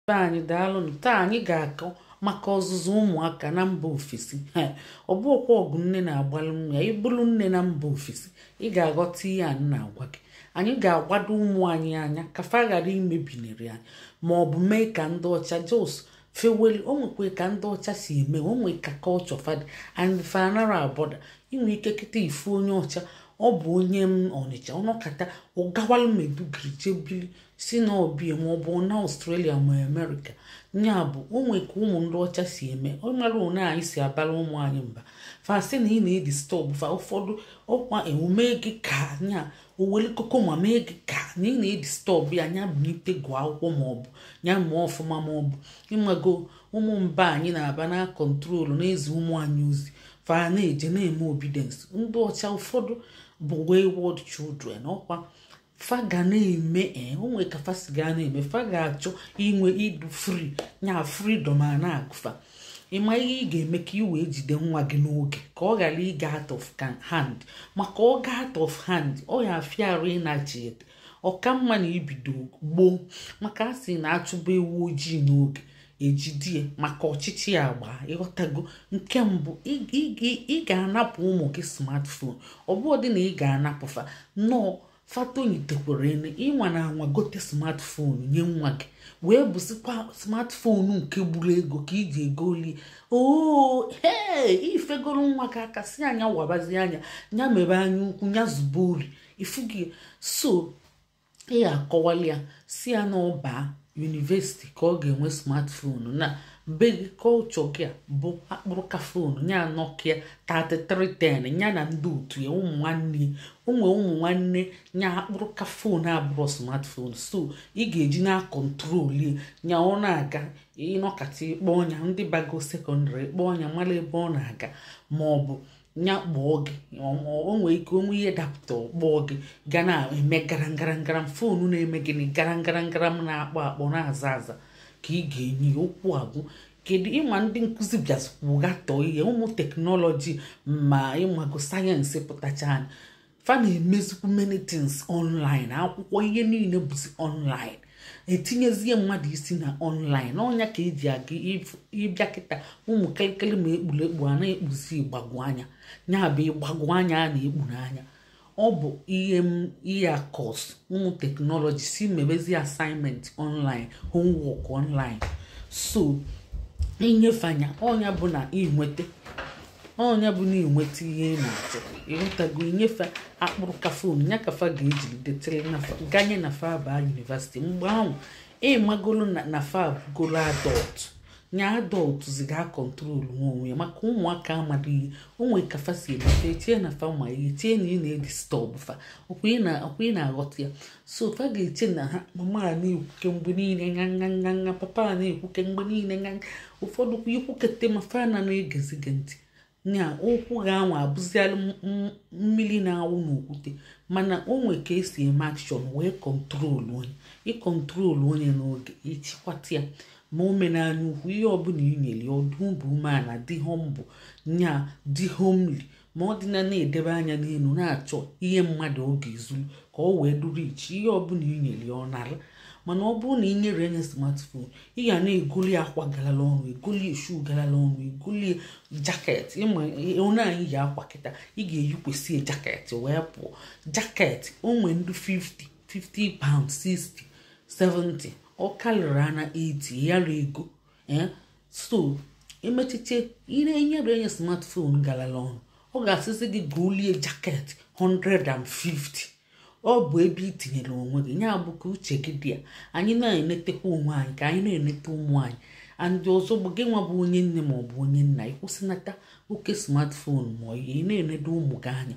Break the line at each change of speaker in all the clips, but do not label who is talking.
be anyị daalụnụ taa anyị ga-akọ maka ọzụzụ ụmụaka na mba ofesi ọ bụ ọkwa ọgụ nne na-agbalụ nwa ya ị bụrụ nne na mba ofesi ị ga-aghọta ihe a na-agwa gị anyị ga-agbado ụmụ anyị anya ka fa ghara imebinere anyị ma ọ bụ mee ka ndị ọcha just feweli o nwekwe ka ndị ọcha si eme o nwee ka culture fa dị and fa anara abother i nwee ike kịta ị fụ onye ọcha ọ bụ onye Ọnịcha ọ nọkata ọ gawalụ Maiduguri je bili si na ọbịa ma ọ bụ na Australia ma America nya bụ o nwe ka ụmụ ndị ọcha si eme ọ mara one anyị si abara ụmụ anyị mba fa sị na ị na-edisturb fa ụfọdụ ọkwa emume gị ka nya owele koko ma mee gị ka na ị na-edisturb ya nya bunite gụọ akwụkwọ ma ọ bụ nya mụọ ọfụma ma ọ bụ ị mago ụmụ mba anyị na-aba na-acontrol na-ezi ụmụ anyị ozi fa na-eje na-eme obedience ndị ọcha ụfọdụ bụ wayward children ọkwa fa ga na-eme ee eh, o nwe ka fa si ga na-eme fa ga-achọ inwe ịdụ free nya freedom a na-agụ fa ị ma ihe ị ga-eme ka ị wee jide nwa gị n'oge ka ọ ghara ịga out of hand maka ọ ga out of hand ọ ya-afịa arụ ịnachiete ọ ka mma na i bido gboo maka a sị na a chụba ewu ojii n'oge e jidie maka ọchịchị agbaa ị ghọtago nke mbụ ị ga-anapụ ụmụ gị smartphone ọ bụrọ dị na ị ga-anapụ fa no fa tonyitekwara ene ị nwana anwa gote smartphone nye nwa gị wee bụsịkwa smartphone nke gburu ego ka i ji egolie oo ee i fegoro nwa gị aka sị ya nya wabazi anya nya mebe anya ukwu nya zube ori ifugi so ị ga-akọwali ya sị ya na ọ baa university ka ọ ga-enwe smartphone na be gị culture gị a bụ akpụrụka phone nya Nokia 3310 ya na ndị otu ya ụmụ nwanne ụmụ ụmụ nwanne ya akpụrụka phone abụrọ smartphone so ị ga-eji na-acontrol ya ọ na-aga ị nọkata ị kpọọ nya ndị bago secondary ị kpọọ nya mara ebe ọ na-aga ma ọ bụ nya kpọọ gị o nwee ike o nwee ihe dapụta ọ kpọọ gị ga na-eme garangarangaram foonu na-eme gịnị garangarangaram na-akpọ akpọ na-aza aza ka ị ga-enye okwu agwụ kedu ị ma ndị nkụzi bịazikwu gatọọ ihe ụmụ technology ma ị mago science pụtacha anyị fa na-emezikwu many things online akwụkwọ ihe niile bụzi online e tinyezie mmadụ isi na online ọ nya ka e ji aga ị bịa kịta ụmụ kelekele ma ekpuru ekpu a na-ekpuzi ịgbagwo anya ya bụ ịgbagwo anya a na-ekpu n'anya ọ bụ ihe a cos ụmụ technology sị mebezi assignment online homework online so i nye fa nya ọ nya bụ na i nweta ọ nya bụ na ị nweta ihe ị na-achọ ịghọtago ị nye fa akpụrụka phone nya ka fa ga-ejiri detere ganye na fa baa university mgbe ahụ ịmagolo na fa bụgolo adult nya adult zi ga control nwa onwe ya maka ụmụaka amadụ ihe o nwe ka fa si eme fa chee na fa ma ihe chee na ị na-edisturb fa ọkwa ị na-aghọta ya so fa ga-eche na ha mama a na-ekwuke mgbe niile nga nga nga nga papa a na-ekwuke mgbe niile nga nga ụfọdụ kwa ikwukete ma fa na na-egezi gị ntị nya okwu gị anwa abụzialụ m- m- mmiri na-awụ n'okwute mana o nwe ka esi eme action wee control onye ị control onye n'oge ị chịkwata ya ma o mena anya ukwu ihe ọbụla i nyere ya ọ dị obi umeala dị humble nya dị homely ma ọ dị na na-edebe anya n'elu na-achọ ihe mmadụ ọ ga-ezuru ka ọ wee duru iche ihe ọbụla i nyere ya ọ nara mana ọ bụrụ na ị nyere enye smartphone ị ga na-egoli akwa galala ọnụ egoli shoe galala ọnụ egoli jacket ịma onye anyị yi akwa kịta ị ga-eyikwesị ya jacket wee pụọ jacket o nwe ndị 50 50 pound 60 70 ọ karịrị ana 80 yara ego eh? so emechiche i nyere enye smartphone galala ọnụ ọ ga-asịzi gị golie jacket 150 ọ bụ ebe ị tinyere onwe gị nya bụ ka uche gị dị ya anyị na-enetekwa onwe anyị ka anyị na-enete ụmụ anyị and ọzọ bụ gị nwa bụ onye nne ma ọ bụ onye nna ịkwụsịnata oke smartphone ma ị na-enedo ụmụ gị anya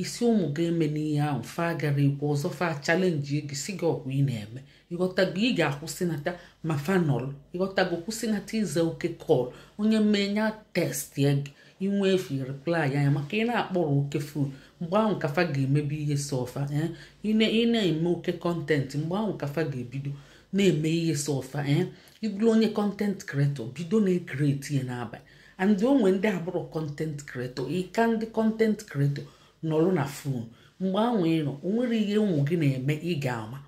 ị sị ụmụ gị emena ihe ahụ fa gara ikwu ọzọ fa challenge gị sị gị ọkwa ị na-eme ịghọtago ị ga-akwụsịnata ma fa nọrọ ịghọtago kwụsịnata ịza oke call onye mee nya text ya gị i nwee efe reply nya maka ị na-akpọrọ oke phone mgbe ahụ ka fa ga-emebe ihe sọ fa eh? ị na-eme oke content mgbe ahụ ka fa ga-ebido na-eme ihe sọ fa ee eh? ị bụrụ onye content creator bido na-ecreate ya n'abalị and o nwe ndị abụrọ content creator ị ka ndị content creator nọrụ na phone mgbe ahụ ị nọ o nwere ihe ụmụ gị na-eme ị ga-ama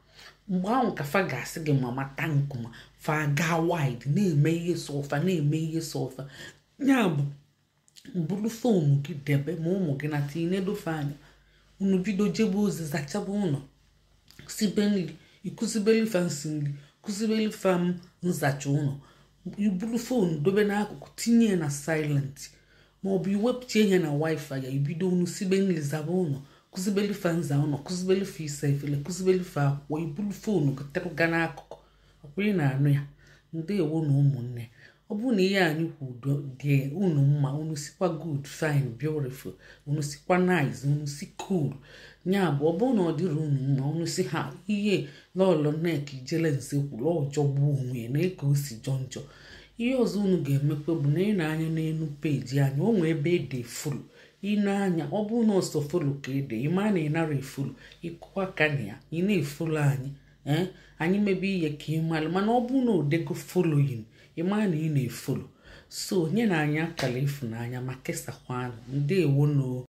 mgbe ahụ ka fa ga-asị gị mama thank you ma fa gaa wild na-eme ihe sọ fa na-eme ihe sọ fa ya bụ buru phone gị debe ma ụmụ gị nata i nedo fa anya unu bido jebe ozi zachaba ụlọ sibe nri ị kụzibeli fa nsi nri kụzibeli fa nzacha ụlọ i buru phone dobe n'akụkụ tinye ya na silent ma ọ bụ i wepụcha nya na wifi ya ibido unu sibe nri zaba ụlọ kụzibeli fa nza ụlọ kụzibeli fa isa efele kụzibeli fa akwụkwọ i buru phone gotere ga n'akụkụ ọkwa ị na-anụ ya ndewo nụ ụmụnne ọ bụrụ na ihe anyị kwuru dị unu mma unu sịkwa good fine beautiful unu sịkwa nice unu sị cool ya bụ ọ bụrụ na ọ dịrọ unu mma unu sị na ihe lọlọ nek ijele nze kwuru ọ jọgbu onwe na eke o si jọ njọ ihe ọzọ unu ga-emekwa bụ na ị nee anya n'elu peji anyị o nwee ebe e de follow ị nee anya ọ bụrụ na ọ sọ follow ka e de ị ma na ị narọ efollow ị kụwa aka na ya ị na-efollow anyị eh, anyị mebe ihe ka ị mara mana ọ bụrụ na o dego following ị mara na ị na-efollow so nyenụ anyị akara ịfụnanya ma kesakwanụ ndewo nụ